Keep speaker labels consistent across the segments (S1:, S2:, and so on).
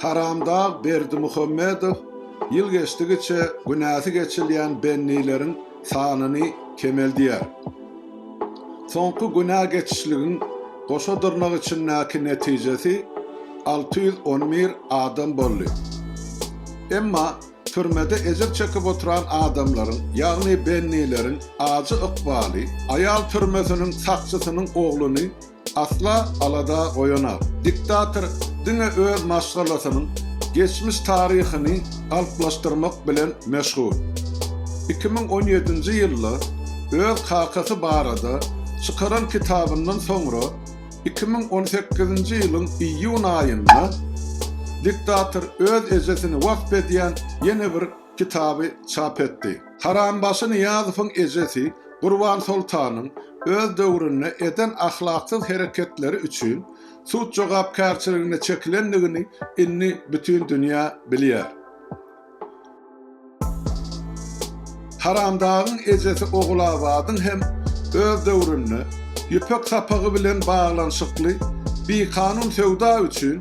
S1: Haramdag Berdimuhamedow ýyl geçdigiçe günäsi geçilýän bennileriň sanyny kemeldýär. Soňky günä geçişligiň goşa dyrnak içindäki netijesi alty ýüz on bir adam boldy. Emma türmede ejir çekip oturan adamlaryň, ýagny bennileriň ajy ykbaly aýal türmesiniň sakçysynyň ogluny Asla alada goýanak diktator diňe öz maşgalasynyň geçmiş taryhyny galplaşdyrmak bilen meşgul. Iki müň on ýedinji ýylda öz kakasy barada çykaran kitabyndan soňra iki müň on sekizinji ýylyň iýun aýynda diktator öz ejesini wasp edýän ýene bir kitaby çap etdi. Harambaşy Nyýazowyň ejesi Gurbansoltanyň öz döwründe eden ahlaksyz hereketleri üçin sud jogapkärçiligine çekilendigini indi bütin dünýä bilýär. Haramdagyň ejesi Ogulabadyň hem öz döwründe Ýüpek sapagy bilen baglanyşykly bikanun söwda üçin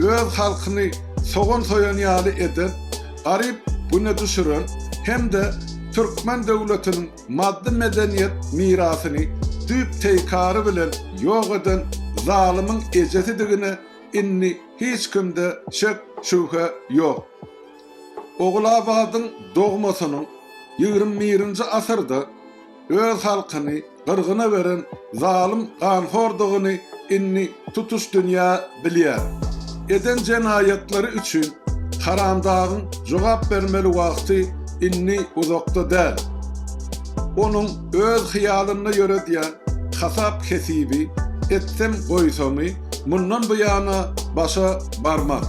S1: öz halkyny sogan soýan ýaly eden, garyp güne düşüren hem-de türkmen döwletiniň maddy-medeniýet mirasyny düýp-teýkary bilen ýok eden zalymyň ejesidigine indi hiç kimde şek-şübhe ýok. Ogulabadyň dogmasynyň ýigrimi birinji asyrda, Öz halkyny gyrgyna beren zalym ganhordygyny indi tutuş dünýä bilýär. Eden jenaýatlary üçin Haramdagyň jogap bermeli wagty indi uzakda däl. Onuň öz hyýalynda ýöredýän hasap-hesibi, etsem goýsamy, mundan buýana başa barmaz.